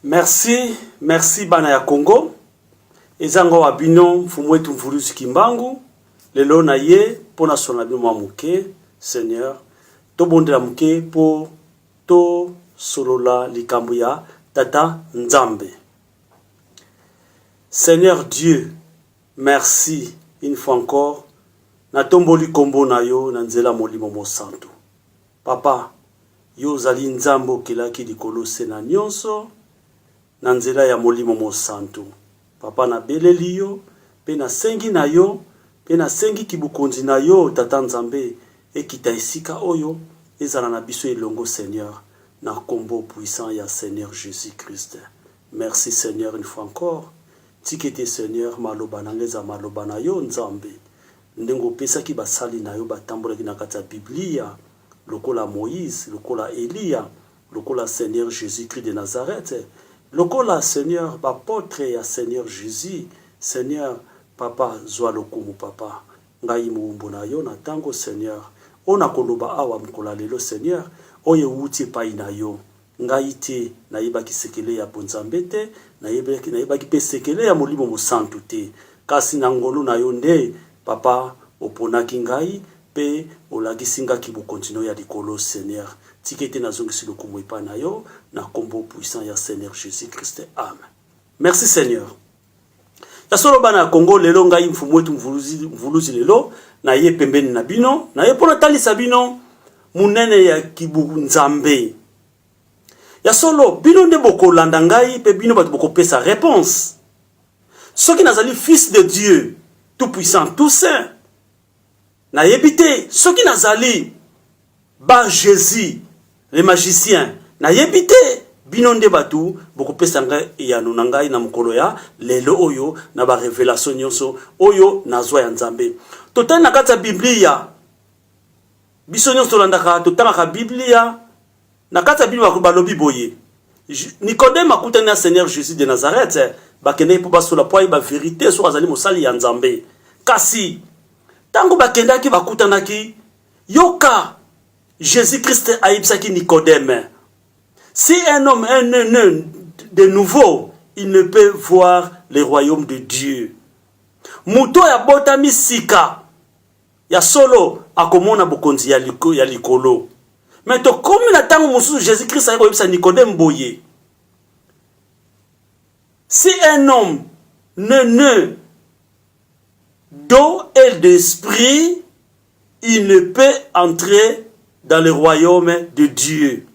Merci, merci bana ya Congo. Eza ngo wa bino mfumu wetu Mvuluzi Kimbangu. Lelo na ye mpo na sona bino mwa moke, Seigneur. Tobondela moke mpo tosolola likambo ya Tata Nzambe. Seigneur Dieu, merci une fois encore. Natomboli kombo na yo na nzela Molimo Mosantu. Papa, yo ozali Nzambe okelaki likolo se na nionso, na nzela ya Molimo Mosantu. Papa na beleli yo, pe na sengi na yo, pe na sengi ki bokonzi na yo, Tata Nzambe, ekita esika oyo, ezala na biso elongo, Seigneur, na kombo puissant ya Seigneur Jesus Christ. Merci Seigneur une fois encore. Tika ete Seigneur, maloba na nga ezala maloba na yo, Nzambe. Ndenge opesaki basali na yo batambolaki na kati ya Biblia, lokola Moïse, lokola Eliya, lokola Seigneur Jesus-Christ de Nazareth, lokola, Seigneur, b'apotres ya Seigneur Jesus, Seigneur, Papa, zua lokumu, Papa. Ngai moumbu na yo na tango, Seigneur, oyo nakoloba awa mokolo ya lelo, Seigneur, oyo ewuti epai na yo. Ngai te, nayebaki sekele ya bonzambe te, nayebaki, nayebaki pe sekele ya Molimo Mosantu te. Kasi na ngolu na Yo nde, Papa, Oponaki ngai, pe Olakisi nga kibokonzi n'Oyo ya Likolo, Seigneur. Tika ete nazongisi lokumu epai na Yo, na Kombo puissant ya Seigneur Jesus-Christ. Amen. Merci, Seigneur. Ya solo bana ya Congo lelo ngai mfumu wetu mvuluzi, mvuluzi lelo na ye pembeni na bino na ye mpo natalisa bino monene ya kibu nzambe ya solo bino nde bokolanda ngai mpe bino bato bokopesa réponse soki nazali fils de dieu tout puissant tout saint Nayebi te soki nazali ba Jesus le magicien, nayebi te bino nde bato bokopesa ngai eyano na ngai na mokolo ya lelo oyo na ba revelation nyonso oyo nazwa ya Nzambe. Totali na kati ya Biblia, biso nyonso tolandaka, totangaka Biblia Na kati ya bino ba balobi boye Nicodème akutani na Seigneur Jesus de Nazareth, bakendeki mpo basola mpo ayeba verite soki azali mosali ya Nzambe. Kasi ntango bakendaki bakutanaki, yoka Jesus Christ ayebisaki Nicodème, si un homme est né de nouveau, il ne peut voir le royaume de Dieu. Moto oyo abotami sika Ya solo, akomona bokonzi ya likolo. Me tokomi na ntango mosusu Jesus Christ ayaki koyebisa Nikodeme boye, si un homme ne ne d'eau et d'esprit, il ne peut entrer dans le royaume de Dieu.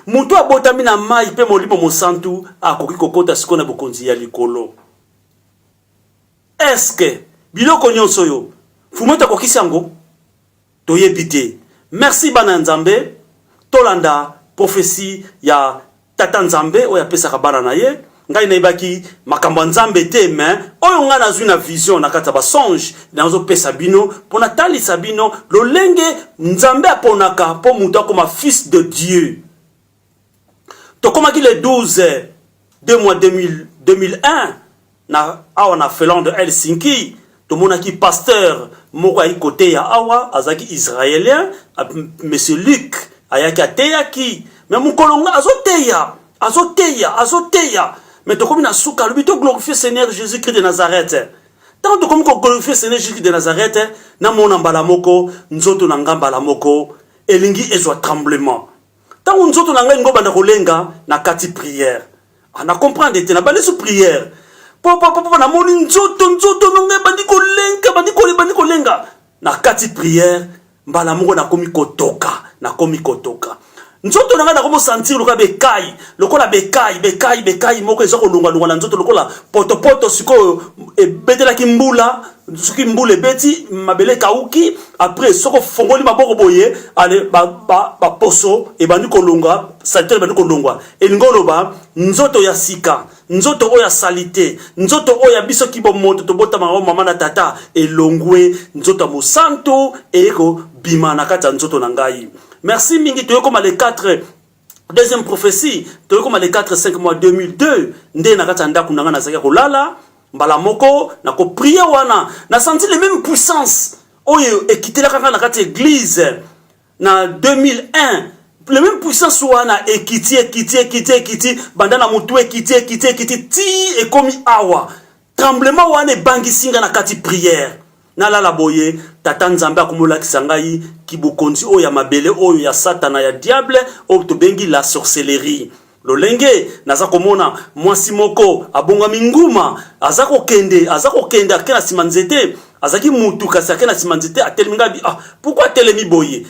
moto abotami na mai mpe molimo mosantu akoki kokota sikoyo na bokonzi ya likolo Eske biloko nionso oyo Fumette akokisi yango? Toyebi te. Merci bana ya Nzambe, tolanda prophetie ya Tata Nzambe oyo apesaka bana na ye. Ngai nayebaki makambo ya Nzambe te, mais oyo ngai nazwi na vision na kati ya ba songe nazopesa bino mpo natalisa bino lolenge Nzambe aponaka mpo moto akoma fils de Dieu. tokomaki le 12 de mois 2000, 2001 na awa na Finlande Helsinki tomonaki pasteur moko ayaki koteya awa azalaki israélien monsieur Luc ayaki ateyaki me mokolo nga azoteya azoteya azoteya me tokomi na suka alobi to glorifie seigneur jésus christ de nazareth ntango tokomi koglorifie seigneur jésus christ de nazareth namona mbala moko nzoto na nga mbala moko elingi ezwa tremblement Tango nzoto na ngai ngo banda kolenga na kati prière. Ah, na comprendre te na bandi sous prière. Papa papa na moni nzoto nzoto na ngai bandi kolenga bandi kole bandi kolenga na kati prière mbala moko nakomi kotoka nakomi kotoka nzoto na ngai nakomi osentir lokola bekai lokola bekai bekai bekai moko eza kolongwalongwa na nzoto lokola potopoto sikoyo ebetelaki mbula soki mbula ebeti mabele ekauki après soki ofongoli maboko boye ale baposo ba, ba ebandi kolonga salite ebandi kolongwa elingi oloba nzoto ya sika nzoto oyo ya salite nzoto oyo ya biso kibomoto tobotama yango mama na tata elongwe nzoto ya mosantu eye kobima na kati ya nzoto na ngai merci mingi toyokoma le 4 deuxième prophétie toyei koma le 4 5 mois 2002 nde na kati ya ndako na ngai nazalaki ya kolala mbala moko na koprie wana na senti le même puissance oyo ekitelaka ngai na kati ya eglise na 2001 le même puissance wana ekiti ekiti ekiti ekiti banda na motu ekiti ekiti ekiti ti ekomi awa tremblement wana ebangisi ngai na kati prière Nalala boye, Tata Nzambe akomi olakisa ngai kibokonzi oyo ya mabele oyo ya Satana ya Diable oyo tobengi la sorcellerie. Lolenge naza komona mwasi moko abongami nguma, aza kokende, aza kokende, ake na nsima nzete, azalaki mutu kasi ake na nsima nzete, atelemi ngai, ah, pourquoi atelemi boye?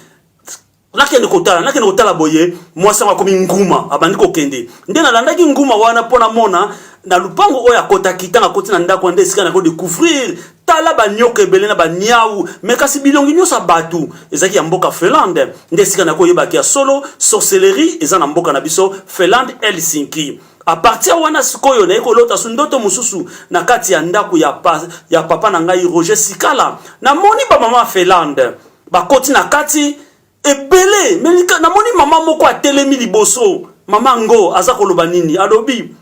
nakende kotala nakende kotala boye mwasi yango akomi nguma abandi kokende nde nalandaki nguma wana mpo namona na lupango oyo akotaki ntango akoti na ndako nde esika nako découvrir tala banyoka ebele na baniau me kasi bilongi nyonso ya bato ezalaki ya mboka finlande nde esika nakoyebaki ya solo sorcellerie eza na mboka na biso finlande helsinki apartir wana sikoyo naye kolota su ndoto mosusu na kati ya ndako ya, pa, ya papa na ngai roger sikala namoni bamama finlande bakoti na kati ebele melika namoni mama moko atelemi liboso mama ngo aza koloba nini alobi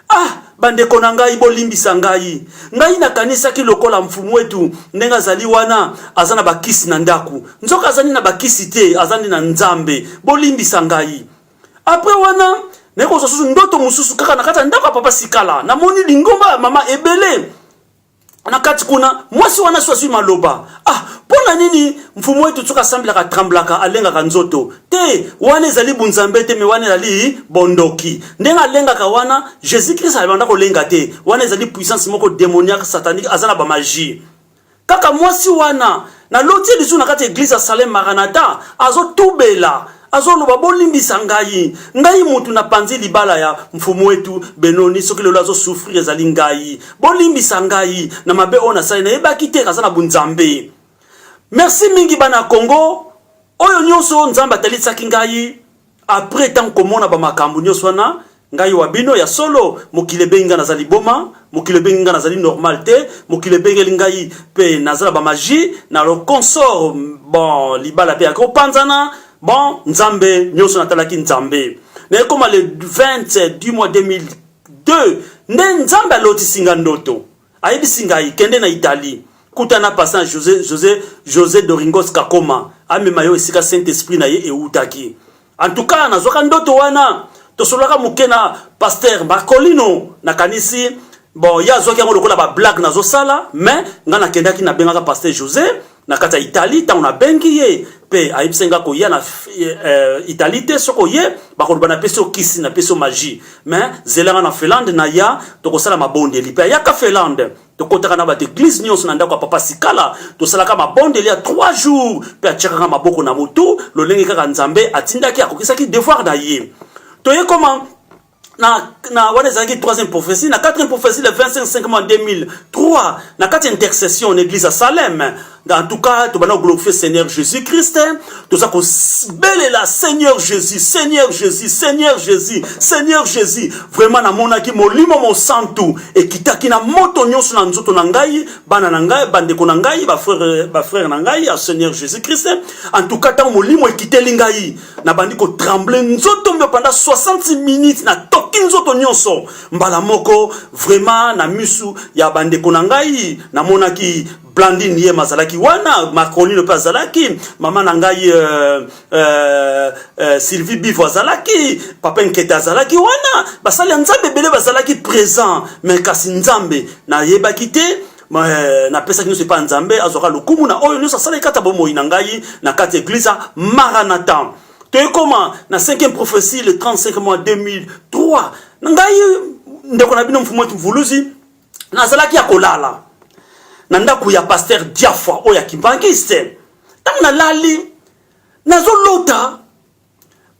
ah bandeko na ngai bolimbisa ngai ngai nakanisaki lokola mfumu etu ndenge azali wana aza na bakisi na ndako nzoka azali na bakisi te aza nde na nzambe bolimbisa ngai apres wana nayekozwa susu ndoto mosusu kaka na kati ya ndako ya papa sikala namoni lingomba ya mama ebele na kati kuna mwasi wana so azwi maloba ah mpo na nini mfumu wetu soki asambelaka atremblaka alengaka nzoto te wana ezali bunzambe te me wana ezali bondoki ndenge alengaka wana jésus krist abanda kolenga te wana ezali puissance moko démoniaque satanique aza na bamagie kaka mwasi wana na loti ye lisusu na kati ya eglise ya salem maranata azotubela azoloba bolimbisa ngai ngai mutu napanzi libala ya mfumu wetu benoni soki lelo azosouffrir ezali ngai bolimbisa ngai na mabe oyo nasali nayebaki te aza na bunzambe merci mingi bana congo oyo nyonso nzambe atalisaki ngai apres ntango komona bamakambo nyonso wana Ngai wa bino ya solo, mokili ebengi ngai naza liboma, mokili ebengi ngai nazali normal te, mokili ebengeli ngai pe naza na ba magie na lo consort, bon libala pe yako panzana, bon Nzambe nionso natalaki Nzambe. Na ekoma le 20 du mois 2002 nde Nzambe alotisi nga ndoto. Ayebisi ngai kende na Italie kutana pasa na Jose, Jose, Jose Doringos Kakoma amema yo esika Saint Esprit na ye ewutaki. En tout cas nazwaka ndoto wana tosololaka moke na pasteur Marcolino nakanisi bon ye azwaki yango lokola bablague nazosala mais ngai nakendaki nabengaka pasteur José na kati ya Italie ntango nabengi ye mpe ayebisi ngai koya na uh, Italie te soko ye bakoloba napesi okisi napesi magie mais zela ngai na Finlande naya tokosala mabondeli mpe ayaka Finlande tokotaka na bato eglize nyonso na ndako ya papa sikala tosalaka mabondeli ya 3 jours mpe atyakaka maboko na motu lolenge kaka nzambe atindaki akokisaki devoir na ye toye koma na, na wana ezalaki 3e prophétie na 4e prophétie le 25 5 mois 2003 na kati ya intercession na église ya salem En tout cas, tu vas glorifier Seigneur Jésus-Christ. Hein. Tu vas belle la Seigneur Jésus, Seigneur Jésus, Seigneur Jésus, Seigneur Jésus. Vraiment, na mona ki molimo mon santu et qui taki na moto nyonso na nzoto na ngai, bana na ngai, bande ko na ngai, ba frère, ba frère na ngai, à Seigneur Jésus-Christ. Hein. En tout cas, tant molimo ekiteli ngai, na bandi ko trembler nzoto mbe pendant 60 minutes na toki nzoto nyonso. Mbala moko vraiment na misu ya bande ko na ngai, na mona ki Blandine Yema azalaki wana, Marcolino mpe azalaki, mama na ngai euh, euh, euh, Sylvie Bivo azalaki, Papa Nkete azalaki wana, basali ya Nzambe ebele bazalaki présent, mais kasi Nzambe nayebaki te euh, napesaki nyonso epai ya Nzambe, azwaka lokumu na oyo nyonso asalaki kati ya bomoi na ngai na kati ya eglise ya Maranatha. Toyekoma na 5e prophétie le 35 mois 2003 na ngai ndeko na bino mfumu mvuluzi nazalaki ya kolala na ndako ya paster diafwa oyo ya kimbangiste ntango nalali nazolota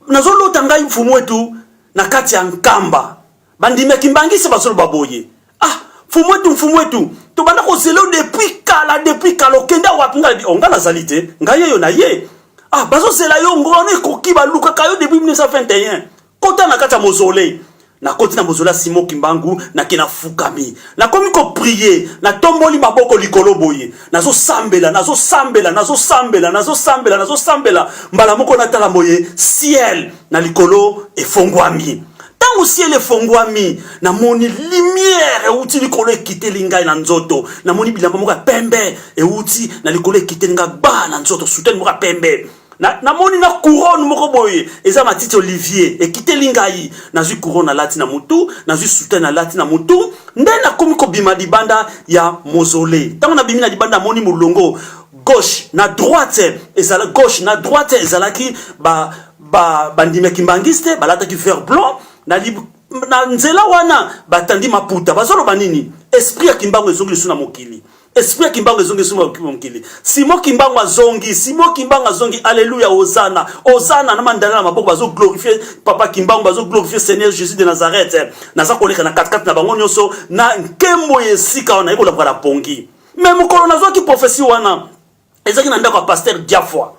nazolota ngai mfumu etu na kati ya nkamba bandimi ya kimbangiste bazoloba boye ah mfumu etu mfumu etu tobanda kozela yo depuis kala depuis kala okenda wapi ngai nabi onga oh, nazali te ngai yeyo na ye ah bazozela yo ngona ekoki balukaka yo depuis 1921 Kota na kati ya mozole. Nakoti na mozole ya Simon Kimbangu, nake nafukami. Nakomi kopriye, natomboli maboko likolo boye. Nazosambela, nazosambela, nazosambela, nazosambela, nazosambela. Mbala moko natala boye, ciel na likolo efongwami. ntango siele efongwami namoni limiere euti likolo ekiteli ngai na nzoto namoni bilamba moko ya pembe euti na likolo ekiteli ngai ba na nzoto sutani moko ya pembe Na, na moni na couronne moko boye eza matiti olivier ekiteli ngai nazwi couronne alati na mutu nazwi soutane alati na mutu nde nakomi kobima libanda ya mozole ntango nabimi na libanda namoni molongo gauche na droite ezala gauche na droite ezalaki ba ba bandimi ya kimbangiste balataki vert blanc na lib na nzela wana batandi maputa bazoloba nini esprit ya kimbangu ezongi lisusu na mokili Esprit ya Kimbangu ezongi lisusu na mokili. Simon Kimbangu azongi, Simon Kimbangu azongi. Alléluia, Hosanna. Hosanna na mandala na maboko bazo glorifier Papa Kimbangu, bazo glorifier Seigneur Jésus de Nazareth. Naza koleka na katikati na bango nyonso na nkembo ya esika wana ekolaka na pongi. Mais mokolo nazwaki prophetie wana, ezalaki na ndako ya pasteur diafoi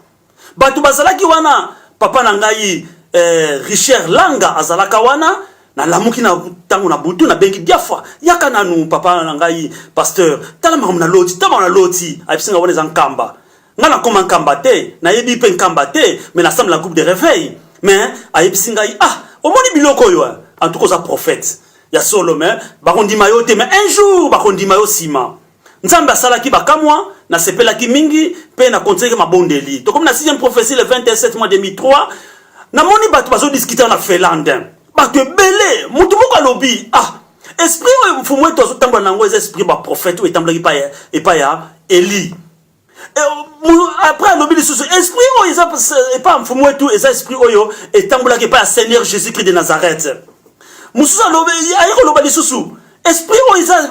bato bazalaki wana papa na ngai eh, richard langa azalaka wana nalamuki na ntango na butu nabengi diafwa yaka nanu papa na ngai pasteur tala makambo na loti tala makambo na loti ayebisi ngai wana eza nkamba ngai nakoma nkamba te nayebi mpe nkamba te me nasambe na groupe de réveil me ayebisi ngai ah omoni biloko oyo eh? en tout cas oza prophète ya solo me bakondima yo te me un jour bakondima yo nsima Nzambe asalaki bakamwa, nasepelaki mingi mpe na kontiaki mabondeli. Tokomi na 6e prophetie le 27 mois 2003, namoni bato bazo discuter na Finlande. Bato ebele, moto moko alobi, ah, esprit oyo mfumu wetu azotambola na yango eza esprit ba prophète oyo etambulaki epai ya Eli. après alobi lisusu esprit oyo eza epa mfumu wetu eza esprit oyo etambolaki epa ya seigneur jésus christ de nazareth mosusu alobi aye koloba lisusu esprit oyo eza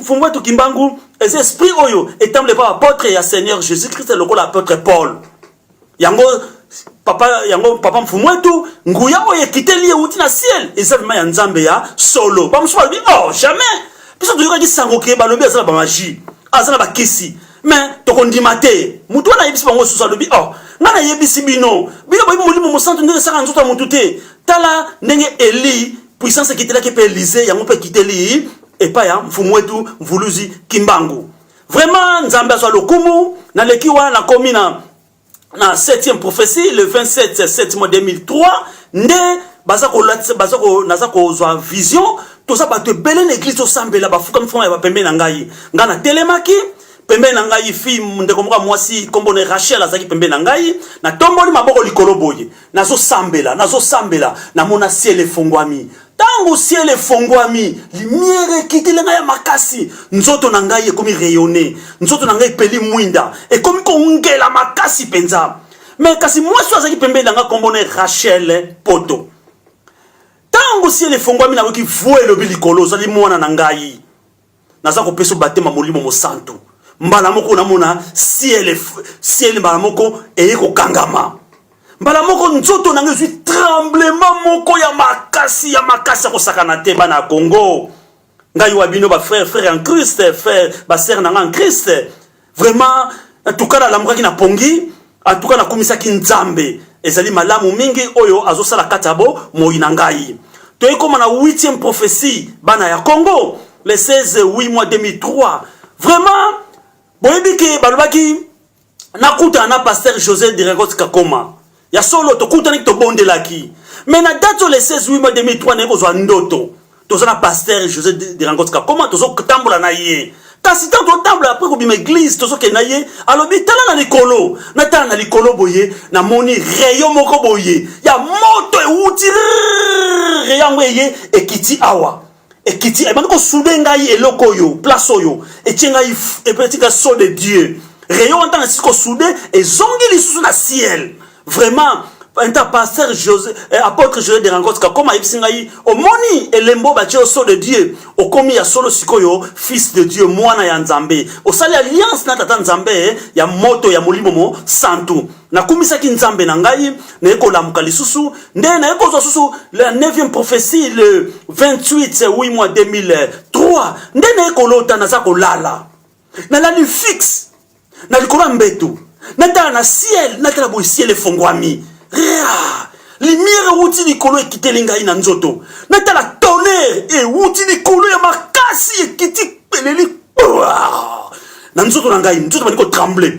mfumu wetu kimbangu eza esprit oyo etambola epa baapotre ya seigneur jésus christ lokola apotre paul yango papa yango papa mfumu etu nguya oyo ekiteli euti na ciel eza vraimen ya nzambe ya solo bamosusu balobi oh jamais biso toyokaki sango ke balobi aza na bamagie aza na bakisi me tokondima te motu wana ayebisi bango susu alobi oh ngai nayebisi bino bino boyebi molimo mosantu ndenge esaka nzoto ya motu te tala ndenge eli puissance ekitelaki mpe elize yango mpe ekiteli epai ya mfumu wetu mvuluzi kimbangu Vraiment Nzambe azwa lokumu na leki wana na komi na na 7e prophétie le 27 7 mois 2003 nde baza ko baza ko naza kozwa vision toza bato ebele na eglise tosambela bafukami fukama ya bapembe na ngai ngai natelemaki pembeni na ngai fi ndeko moko ya mwasi nkombo na rachel azalaki pembeni na ngai natomboli maboko likolo boye nazosambela nazosambela namona siele efongwami Tango ciel efonguami, limiere ekiteli ngai ya makasi. Nzoto na ngai ekomi rayonner. Nzoto na ngai epeli mwinda. Ekomi kongela makasi penza. Mais kasi mwasi oyo azalaki pembeni na ngai kombo na Rachel Poto. Tango ciel efonguami nayoki voix elobi likolo, ozali mwana na ngai. naza kopesa batema molimo mosantu mbala moko namona ciel ciel mbala moko eye kokangama mbala moko nzoto na ngai ezwi tremblement moko ya makasi ya makasi ya kosakana te bana ya congo ngai wa bino bafrère frère en christ frère basere na ngai en christ Vraiment, en tout cas nalamukaki na pongi, en tout cas nakumisaki Nzambe. Ezali malamu mingi oyo azosala kati ya bo moyi na ngai. Toyei koma na 8e prophetie bana ya Congo le 16 8 mois 2003. Vraiment boyebi ke balobaki nakutana na pasteur José Diregots Kakoma. ya solo tokutanaki tobondelaki me na date oyo le 16 8 mois 2003 naye kozwa ndoto toza na pasteur josé derangot kakoma tozotambola na ye kasi ntango totambola apres kobima eglize tozokende na ye alobi tala na likolo natala na likolo boye namoni reyo moko boye ya moto ewuti reyo yango eye ekiti awa ekiti ebandi kosude ngai eloko oyo place oyo etie ngai epetika so de dieu rayon wana ntango esisi kosude ezongi lisusu na ciel vraiment enta pasteur josé eh, apôtre josé de rangots kakoma ayebisi ngai omoni elembo batie yo so de dieu okomi ya solo sikoyo fils de dieu mwana ya nzambe osali alliance na tata nzambe ya moto ya molimo mo santu nakumisaki nzambe na ngai naye kolamuka lisusu nde naye kozwa susu la 9e prophétie le 28 8 mois 2003 nde naye kolota naza kolala nalali fixe na likolo ya mbeto natala na ciel natala boye ciel efongwami rea limiere ewuti likolo ekiteli ngai na nzoto natala tonere ewuti likolo ya makasi ekiti peleli na nzoto na ngai nzoto bandi kotremble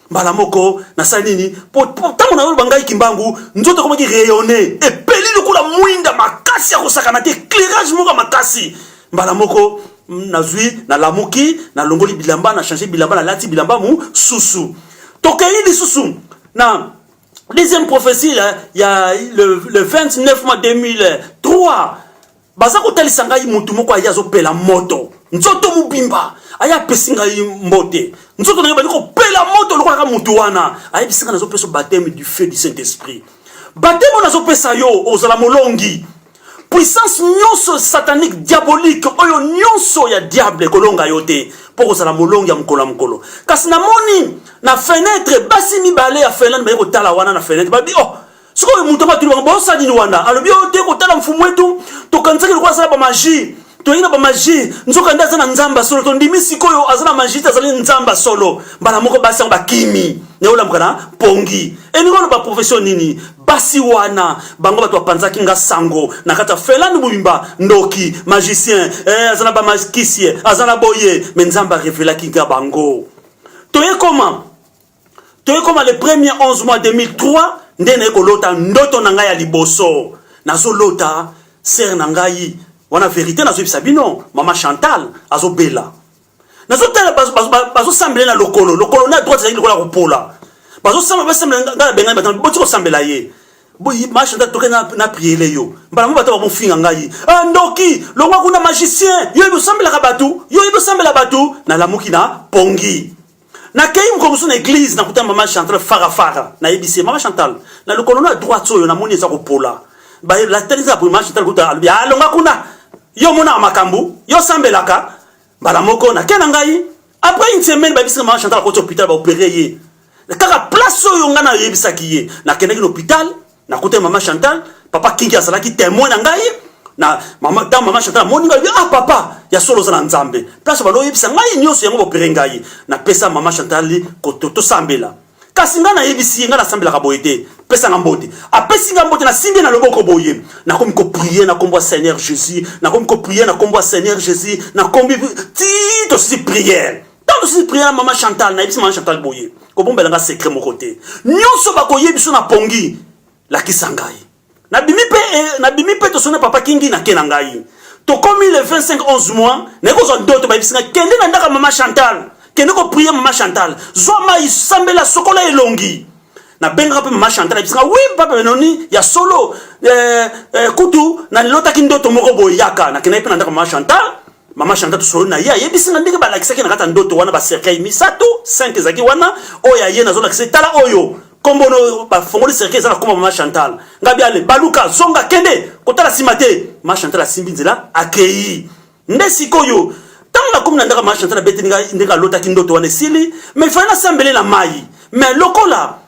mbala moko nasali nini po ntango nayoloba ngai kimbangu nzoto ekomaki rayonne epeli lokola mwinda makasi ya kosakana te éclairage moko ya makasi mbala moko mm, nazwi nalamuki nalongoli bilamba na change bilamba nalati bilamba mosusu tokei lisusu na deuxième prophétie ya, ya le, le 29 mai 2003 Baza kotalisa ngai mutu moko aye azopela moto nzoto mobimba aye apesi ngai mbote nzoto na ye bandi kopela moto lokolaka mutu wana ayebisi ngai nazopesa bateme du feu du saint esprit bateme oyo nazopesa yo ozala molongi puissance nyonso satanique diabolique oyo nyonso ya diable ekolonga yo te mpo kozala molongi ya mokolo ya mokolo kasi namoni na fenetre basi mibale ya finlande baye kotala wana na fenetre babi oh sikoyo moto yango atuni bango bosa nini wana alobi oyo oh, te kotala mfumu wetu tokanisaki lokola asala bamagie toyei na bamagie nzoka nde aza na nzamba solo tondimi sikoyo aza na magie te azali nzamba solo mbala moko basi yango bakimi naye olamuka na pongi elingi wana baprofession nini basi wana bango bato bapanzaki nga sango na kati ya felani mobimba ndoki magicien eh, aza na bamakisie aza na boye me nzambe arevelaki nga bango toye koma toye koma le premier 11 mois 2003 nde naye kolota ndoto na ngai ya liboso nazolota sere na ngai wana verite nazoyebisa bino mama chantal azobela nazotala bazosambela na lokolo lokolo na droite ezali lokola kopola bazosamba basambela ngai na bengani bato boti kosambela ye boyi ma chantal toke na priele yo mbala mo bato bamofinga ngai ah, ndoki longwa kuna magicien yo yebi osambelaka bato yo yebi osambela bato nalamuki na pongi Na kei mokolo mosusu na eglise na kuta mama Chantal fara fara na yebisi ye mama Chantal na lokolo na droite oyo na moni eza kopola ba la tali za mama Chantal kuta alobi alonga ah, kuna yo mona makambu yo sambelaka bala moko na kena ngai après une semaine ba bisi mama Chantal ko hôpital ba opérer ye kaka place oyo nga na yebisaki ye na kena ki hôpital nakutani mama chantal papa kingi azalaki temoin na ngai na mama ntango mama chantal amoni ngai alobi ah papa ya solo oza na nzambe place bando oyebisa ngai nyonso yango bopere ngai napesa mama chantal koto tosambela kasi ngai nayebisi ye ngai nasambelaka boye te pesanga mbote apesi ngai mbote nasimbi na loboko boye nakomi koprie na nkombo ya seigneur jésus nakomi koprie na nkombo ya seigneur jésus nakomi ti tosi priere ntango mosusu priere ya mama chantal nayebisi mama chantal boye kobombela nga sekre moko te nyonso bakoye biso na pongi lakisa ngai nabimi mpe eh, nabimi mpe tosoni na papa kingi nake na ngai tokomi le 25 11 mois naye kozwa ndoto bayebisi ngai kende na ndaka mama chantal kende koprie mama chantal zwa mai sambela sokola elongi nabengaka mpe mama chantal ayebisi ngai wi papa benoni ya solo eh, eh, kutu nalotaki ndoto moko boyaka nakendaki mpe na ndaka mama chantal Mama Shanta tosolo na ye ayebisi nga ndenge balakisaki na kati ya ndoto wana ba cercueil misato 5 ezalaki wana oyo aye nazolakisa etala oyo kombo no bafongoli cercueil eza na kombo mama Chantal ngabi ale baluka zonga kende kotala nsima te mama Chantal asimbi nzela akei nde sikoyo ntango nakomi na ndako mama Chantal abeteli nga ndenge alotaki ndoto wana esili mais ifali nasambele na mai mais lokola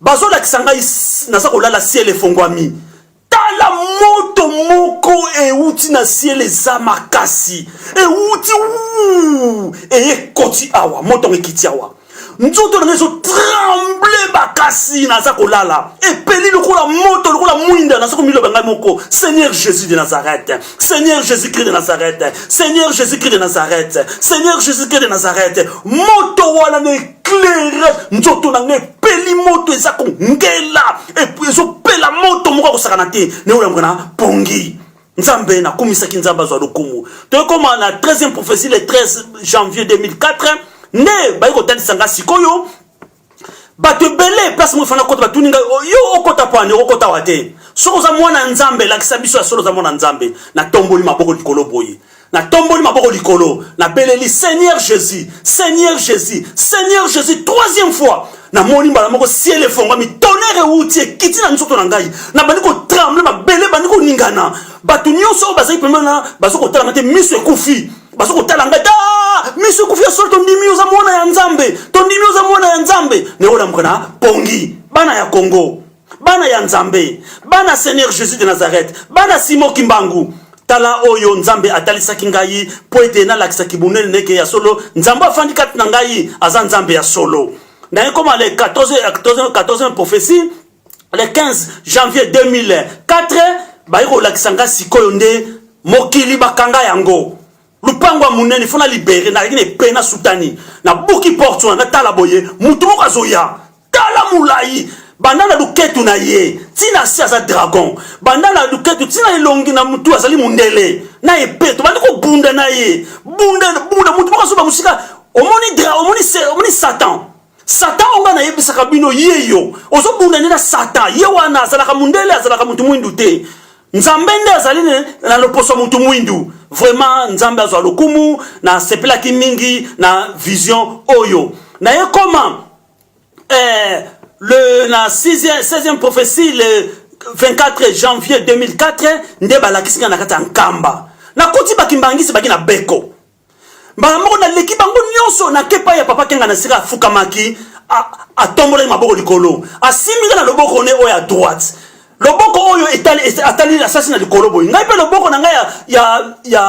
Bazolakisa ngai naza kolala ciel efongwami tala moto moko euti na ciel eza makasi euti eye ekoti awa moto yango ekiti awa nzoto na ngai ezotremble makasi naza kolala epeli lokola moto lokola mwinda naza komiloba ngai moko seigneur jésus de nazareth seigneur jésus christ de nazareth seigneur jésus christ de nazareth seigneur jésus christ de nazareth moto wana na claire nzoto na ngai epeli moto eza kongela ezopela moto moko akosakana te neoyambuka na pongi nzambe nakumisaki nzambe azwa lokumu toyekoma na 13e prophétie le 13 janvier 2004 nde bayi kotalisa ngai sikoyo bato ebele place moko efanda kota batuni ngai oh, yo okota pwani okota wa te soki oza mwana nzambe lakisa biso ya solo oza mwana nzambe natomboli maboko likolo boye natomboli maboko likolo nabeleli seigneur jésus seigneur jésus seigneur jésus troisième fois namoni mbala moko ciel efongwami tonere euti ekiti na nzoto na ngai nabandi kotremble mabele ebandi koningana bato nyonso oyo bazali pembeni na bazo kotalanga te miso ekufi bazo kotala ngai ta miso ekufi ya solo tondimi oza mwana ya nzambe tondimi oza mwana ya nzambe nayekolambuka na pongi bana ya kongo bana ya nzambe bana seigneur jesus de nazareth bana simo kimbangu tala oyo nzambe atalisaki ngai mpo ete nalakisaki bonene neke ya solo nzambe afandi kati na ngai aza nzambe ya solo naye koma le 14, 14, 14 prophetie le 15 janvier 2004 baye kolakisa ngai sikoyo nde mokili bakanga yango lupango ya monene fona libere nalaki na epe na sutani nabuki porte wana natala boye motu moko azoya tala mulayi banda na luketu na ye tina si aza dragon banda na luketu tina elongi na mutu azali mundele na epe tobandi kobunda na ye bunda bunda mutu moko azoba mosika omoni dra omoni omoni satan satan oyo ngai nayebisaka bino ye yo ozobunda nde na satan ye wana azalaka mundele azalaka mutu mwindu te nzambe nde azali na loposo ya mutu mwindu vraiment nzambe azwa lokumu nasepelaki mingi na vision oyo na ye koma eh, le na 6e 16e prophétie le 24 janvier 2004 nde balakisi ngai na kati ya nkamba nakoti bakimbangisi baki na beko mbala moko naleki bango nyonso nake epai ya papa kenga na sika afukamaki atombolaki maboko likolo asimbi ngai na loboko ne oyo ya droite loboko oyo atali asasi na likolo boye ngai mpe loboko na ngai ya, ya, ya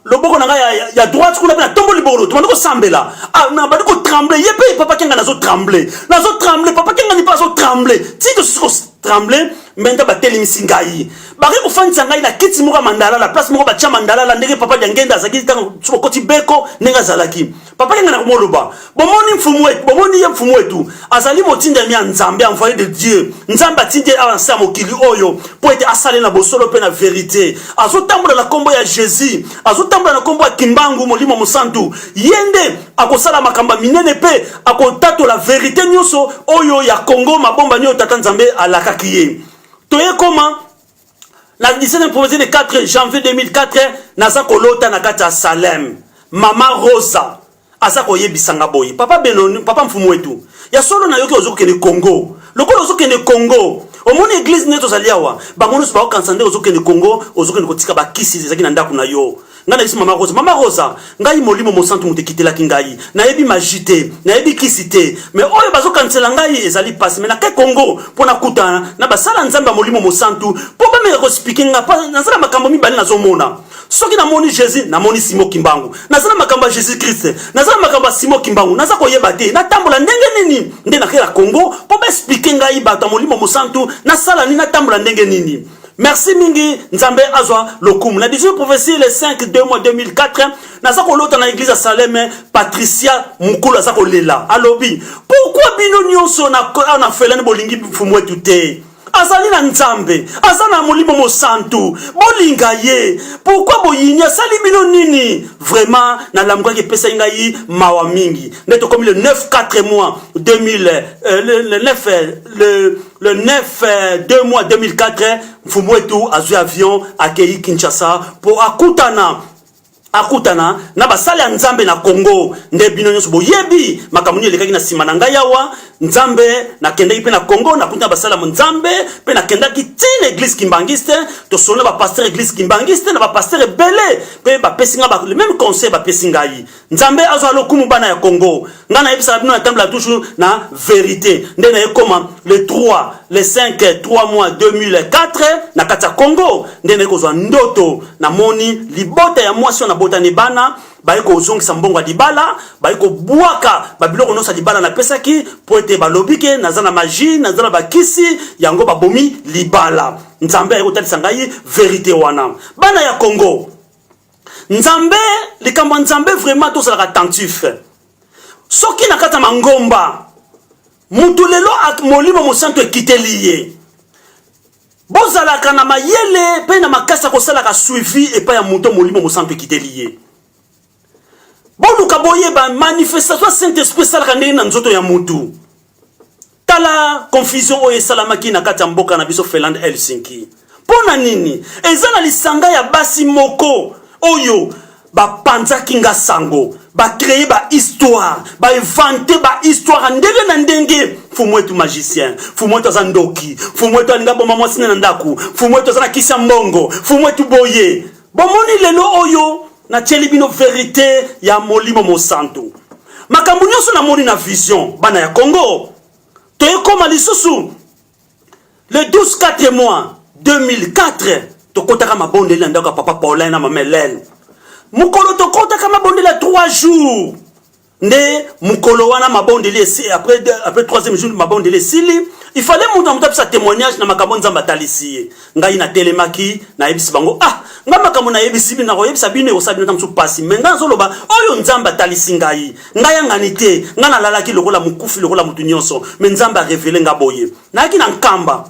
loboko na ngai ya, ya, ya droite kuna mpe natombo libolo tobandi kosambela ah, nabandi kotremble ye mpe papa kenga nazo tremble nazo tremble papa kenga ni mpe azo tremble ti tosusu kotremble mbenta batelemisi ngai bake kofandisa ngai na kiti moko ya mandalala place moko batya mandalala ndenge papa diangenda azalaki ntango sokokoti beko ndenge azalaki papa yenga na komoloba bomoni mfumu wetu bomoni ye mfumu wetu azali motindami ya nzambe envoye de dieu nzambe atindi awa nse ya mokili oyo mpo ete asale na bosolo mpe na verite azotambola na nkombo ya jésus azotambola na nkombo ya kimbangu molimo mosantu ye nde akosala makambo ya minene mpe akotatola verite nyonso oyo ya kongo mabomba nioyo tata nzambe alakaki ye toyekoma na 17 province de 4 janvier 2004 naza kolota na kati ya salem mama rosa aza koyebisa nga boye papa benoni papa mfumu wetu ya solo nayoki ozokende congo lokola ozokende congo omoni eglize nde tozali awa bango nyonso bakokanisa nde ozokende congo ozokende kotika bakisi ezalaki na ndako na yo Ngai nayebisi mama Rosa, mama Rosa, ngai molimo mosantu moto ekitelaki ngai, nayebi maji te, nayebi kisi te, me oyo bazokanisela ngai ezali pasi, me nake Kongo mpo nakutana na basala nzambe ya molimo mosantu mpo bameka kospike ngai, mpo naza na makambo mibale nazomona soki namoni jesus namoni simo kimbangu naza na makambo ya jesus krist naza na makambo ya simo kimbangu naza koyeba te natambola ndenge nini nde nakela kongo mpo baesplike ngai bato ya molimo mosantu nasala nini natambola ndenge nini Merci mingi Nzambe azwa lokumu. Na 18 prophetie le 5 2 mois 2004 naza kolota na église ya Saleme Patricia Mukulu aza kolela. Alobi, "Pourquoi bino nyonso na na felani bolingi mfumu wetu te?" azali na nzambe aza na molimo mosantu bolinga ye pourkui boyini asali bino nini vraiment nalamukaki epesaki ngai mawa mingi nde tokomi le 9 4 mois 2000 euh, le, le 9 euh, le Le 9 euh, 2 mois 2004, Mfumuetu azwi avion akeyi Kinshasa mpo akutana akutana na basali ya nzambe na congo nde bino nyonso boyebi makambo nini elekaki na nsima na ngai awa nzambe nakendaki mpe na congo nakuti na basali ya nzambe mpe nakendaki ti na eglise kimbangiste tosolo na bapaster eglise kimbangiste na bapaster ebele mpe bapesi ngai le meme conseil bapesi ngai nzambe azwa lokumu bana ya congo ngai nayebisaka bino natambela toujours na verité nde nayekoma le 3 le 5 3 mois 2004 na kati ya congo nde naye kozwa ndoto namoni libota ya mwasi oyo nabotani bana baye kozongisa mbongo ya libala baye kobwaka babiloko nyonso ya libala napesaki mpo ete balobi ke naza na magie naza na bakisi yango babomi libala nzambe aye kotalisa ngai verité wana bana ya congo nzambe likambo ya nzambe vraiment tozalaka attentif soki na kati ya mangomba moto lelo molimo mosantu ekiteli ye bozalaka na mayele mpe na makasi ya kosalaka suivi epai ya moto molimo mosantu ekiteli ye boluka boyeba manifestation ya saint esprit esalaka ndenge na nzoto ya motu Tala confusion oyo esalamaki na kati ya mboka na biso Finlande Helsinki. Mpo na nini? Eza na lisanga ya basi moko oyo bapanzaki nga sango ba créer ba histoire ba inventer ba histoire ndenge na ndenge fumu etu magicien fumu etu aza ndoki fumu etu alinga boma mwasi na ndako fumu etu aza na kisi ya mbongo fumu etu boye bomoni lelo oyo natyeli bino verite ya molimo mosanto makambo nyonso namoni na vision bana ya congo toyekoma lisusu le 12 4 mois 2004 tokotaka mabondeli na ndako ya papa paulin na mama helene mokolo tokotaka mabondeli ya 3 jours nde mukolo wana mabondeli esi après de, après troisième jour mabondeli esili il fallait moto na moto apesa témoignage na makambo nzambe atalisi ye ngai natelemaki nayebisi bango ah nga makambo nayebisi bino nakoyebisa bino ekosala bino ta mosusu mpasi me ngai nazoloba oyo nzambe atalisi ngai ngai yangani te ngai nalalaki lokola mokufi lokola motu nyonso me nzambe arevele nga boye nayaki na nkamba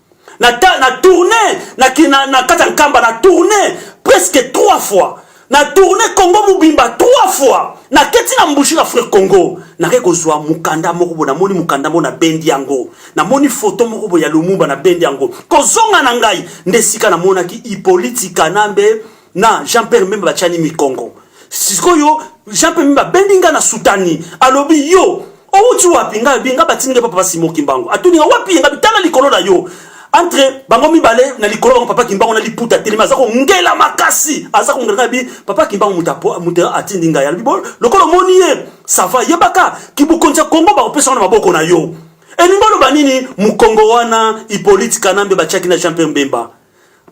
na, ta, na tourne na, na, na kati ya nkamba na tourne presque trois fois na tourne congo mobimba trois fois naketi na mbushi na fre congo nake kozwa mokanda moko boye namoni mokanda moko nabendi yango namoni foto moko boye ya lumumba nabendi yango kozonga na ngai nde esika namonaki hipoliti kanambe na jean pierre mbemba batiani mikongo sikoyo jean pierre mbemba abendi ngai na sutani alobi yo owuti wapi ngai alobi ngai batindi ngai papa basimo kimbangu atuni nga wapi ye ngai bitala likolo na yo entre bango mibale na likolo bango papa kimbangu na liputa telemi aza kongela makasi aza kongela ngai bi papa kimbangu moto atindi ngai alobi bo lokola omoni ye sava yebaka kibokonzi ya kongo bakopesa wana maboko na yo elingi oloba nini mokongo wana ipolitikana mbe batiaki na jean pierre mbemba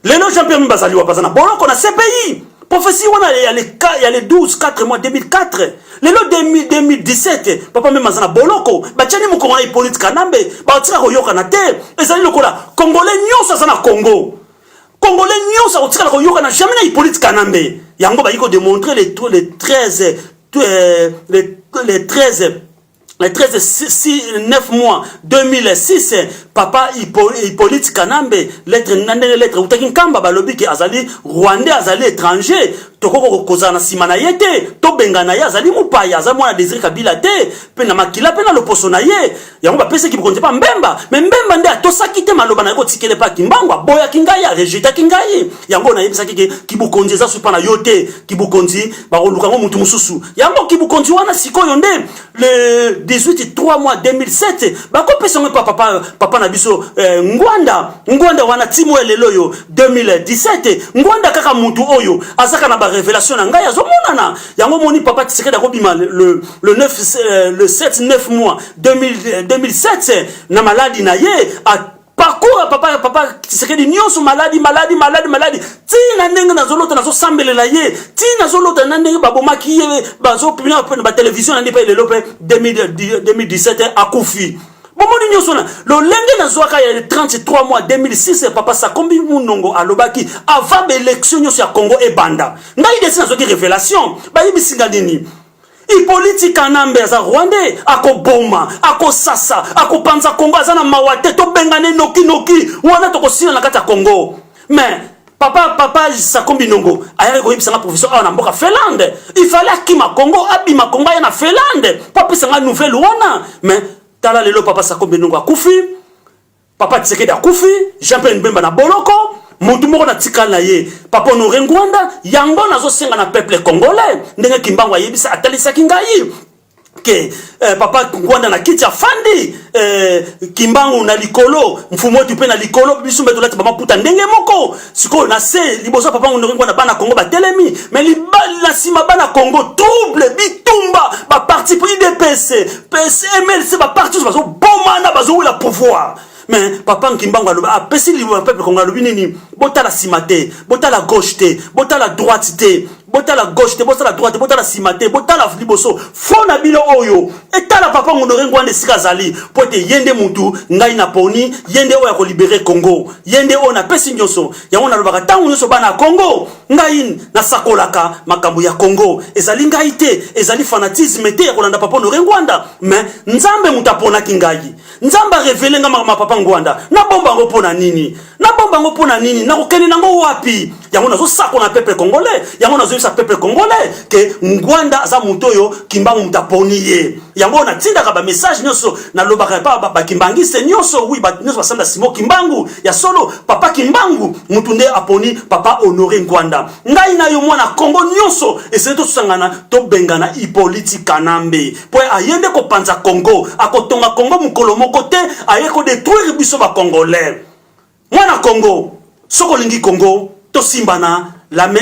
Lelo Jean Pierre Bemba azali wapi? Aza na boloko na CPI. Prophetie wana ya le ya le 12 4 mois 2004. Lelo 2017 papa Bemba aza na boloko. Batiani mokolo na Hippolyte Kanambe, batika koyokana te. Ezali lokola Congolais nyonso aza na Congo. Congolais nyonso akotikala koyokana jamais na Hippolyte Kanambe. Yango bayi ko démontrer les les 13 euh, les les 13 le 13 6, 9 mois 2006 papa hippolyte kanambe lettre na ndenge lettre eutaki nkamba balobi ke azali rwandais azali étranger tokoki kozala na nsima na ye te tobengana ye azali mopaya aza mwana desire kabila te mpe na makila mpe na loposo na ye yango bapesaki bokonzi mpa mbemba me mbemba nde atosaki te maloba na ye kotikele mpe akimbango aboyaki ngai arejetaki ngai yango nayebisaki ke kibokonzi eza supa na yo te kibukonzi bakoluka ngo mutu mosusu yango kibukonzi wana sikoyo nde le 18 3 mois 2007 bakopesa ngo epa papa, papa na biso eh, ngwanda ngwanda wana timo ya lelo oyo 2017 ngwanda kaka mutu oyo azaka na barevelation na ngai azomonana yango moni papa tisekedi akobima le, le, 9, eh, le 7 9 mois 2000, 2007 na maladi na ye parcours ya papa ya papa Tshisekedi nyonso maladi maladi maladi maladi tii na ndenge nazolota nazosambelela ye tii nazolota na ndenge babomaki ye bazopina na batelevizio na nde mpe lelo mpe 2017 akufi bomoni nyonso na lolenge nazwaka ya 33 mois 2006 ya papa sakombi munongo alobaki avant baelektio nyonso ya congo ebanda ngai desi nazwaki révélation bayebisinga nini Ipoliti Kanambe aza Rwandais, akoboma, akosasa, akopanza Congo, aza na mawa te, tobengane noki noki, wana tokosila na kati ya Congo. Mais papa papa Sako Binongo ayaki koyebisa nga professeur awa na mboka Finlande, il fallait akima Congo, abima Congo aya na Finlande, po apesa nga nouvelle wana. Mais tala lelo papa Sako Binongo akufi. Papa Tshisekedi akufi, Jean-Pierre Mbemba na boloko, mutu moko na tikali na ye papa honore ngwanda yango nazosenga na peuple congolais ndenge kimbangu ayebisa atalisaki ngai ke eh, papa ngwanda na kiti afandi eh, kimbangu na likolo mfumu wetu mpe na likolo biso mpe tolati bamaputa ndenge moko sikoyo na se liboso papa ngondoki ngwana bana kongo batelemi me libali na nsima bana kongo trouble bitumba baparti pris dps mlc baparti oso bazobomana bazowela pouvoir mais papa nkimbangu alobi apesi ah, liwa ya peuple kongo alobi nini botala nsima te botala gauche te botala droite te botala gauche te botala droite botala sima te botala liboso fo na bino oyo etala papa monore ngwanda esika azali mpo ete ye nde mutu ngai na poni ye nde oyo akolibere congo ye nde oyo napesi nyonso yango nalobaka ntango nyonso bana ya congo ngai nasakolaka makambo ya congo ezali ngai te ezali fanatisme te ya kolanda papa honore ngwanda me nzambe moto aponaki ngai nzambe arevele ngai makambo ya papa ngwanda nabomba yango mpo na nini nabomba yango mpo na nini nakokende nango wapi yango nazosakola na peuple congolais yango nazoyebisa peuple congolais ke ngwanda aza moto oyo kimbangu moto aponi ye yango oyo natindaka bamessage nyonso nalobaka epa bakimbangiste nyonso wi bato nyonso basanda simo kimbangu ya solo papa kimbangu moto nde aponi papa honore ngwanda ngai na yo mwana kongo nyonso esili tosangana tobengana ipoliti kanambe mpo aye nde kopanza kongo akotonga kongo mokolo moko te aye kodetruire biso bacongolais mwana kongo soki olingi kongo tosimbana lame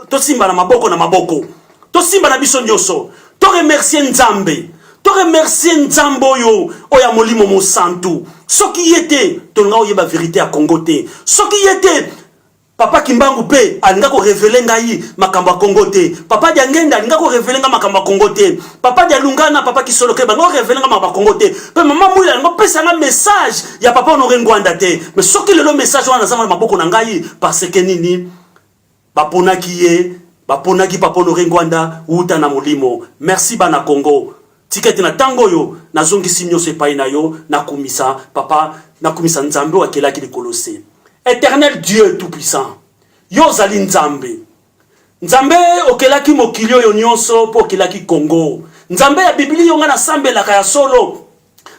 tosimbana maboko na maboko tosimbana biso nyonso toremercie nzambe toremercie nzambe oyo oyo ya molimo mosantu soki ye te tolinga oyeba verite ya kongo te soki ye te Papa Kimbangu pe alinga ko reveler ngai makambo ya Congo te. Papa Diangenda alinga ko reveler ngai makambo ya Congo te. Papa Dialunga na Papa Kisoloke balinga ko reveler ngai makambo ya Congo te. Pe Mama Mwila alinga kopesa ngai message ya Papa Honore Ngwanda te. Mais soki lelo message wana naza na maboko na ngai parce que nini? Baponaki ye, baponaki Papa Honore Ngwanda wuta na molimo. Merci bana Congo. Tika ete na ntango oyo nazongisi nyonso epai na yo, nakumisa Papa, nakumisa Nzambe oyo akelaki likolo se. Eternel Dieu tout puissant, yo ozali Nzambe. Nzambe okelaki mokili oyo nyonso mpo okelaki Congo. Nzambe ya Biblia yo ngai nasambelaka ya solo,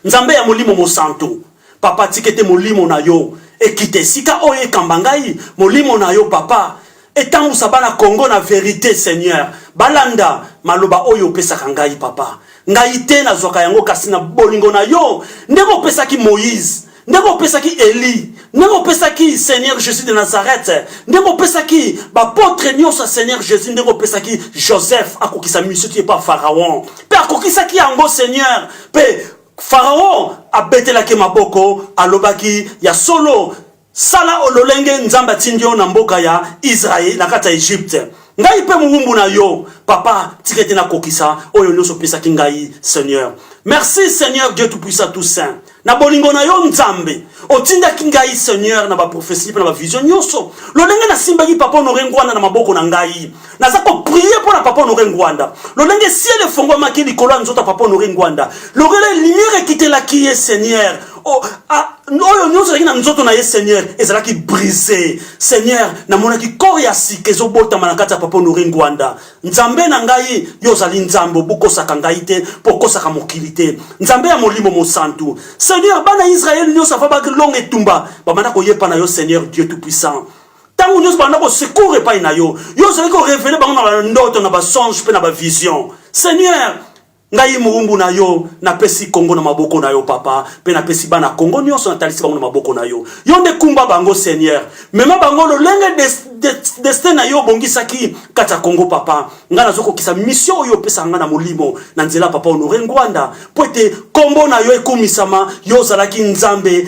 Nzambe ya Molimo Mosantu. Papa tika ete molimo na yo ekita esika oyo ekamba ngai, molimo na yo papa etambusa bana Congo na verite Seigneur, balanda maloba oyo opesaka ngai papa. Ngai te nazwaka yango kasi na bolingo na yo ndenge opesaki Moïse ndenge opesaki Eli ndenge opesaki Seigneur Jésus de Nazareth ndenge opesaki bapotre nyonso ya Seigneur Jésus ndenge opesaki Joseph akokisa misio ti epa Pharaon mpe akokisaki yango Seigneur mpe Faraon abetelaki maboko, alobaki, Ya solo, sala o lolenge Nzambe atindi yo na mboka ya Israël, na kati ya Egypte. Ngai mpe mowumbu na yo, Papa, tika ete nakokisa oyo nyonso opesaki ngai, Seigneur. Merci, Seigneur Dieu Tout-Puissant, Tout-Saint. na bolingo na yo nzambe otindaki ngai seigneur na baprofesi mpe na bavision nyonso lolenge nasimbaki papa honore ngwana na maboko na ngai naza koprie mpo na papa honore ngwanda lolenge siele efongwamaki likolo ya nzoto ya papa honore ngwanda lorela lumière ekitelaki ye seigneur oh, ah, oyo nyonso ezalaki na nzoto na ye seigneur ezalaki brise seigneur namonaki kor ya sika ezobotama na kati ya papa honore ngwanda nzambe na ngai yo ozali nzambe obokosaka ngai te mpo okosaka mokili te nzambe ya molimo mosantu seigneur bana israele nyonso ava balonga etumba bamanda koyepa na yo seigneur dieu tout puissant ntango nyonso banda kosecour epai na yo yo ozali korevele bango na bandoto na basonge mpe na bavision seigneur ngai moumbu na yo napesi kongo na maboko na yo papa mpe napesi bana kongo nyonso natalisi bango na maboko na yo yo nde kumba bango seigneur mema bango lolenge destin na yo obongisaki kati ya kongo papa ngai nazokokisa misio oyo opesaka ngai na molimo na nzela papa honore ngwanda mpo ete nkombo na yo ekumisama yo ozalaki nzambe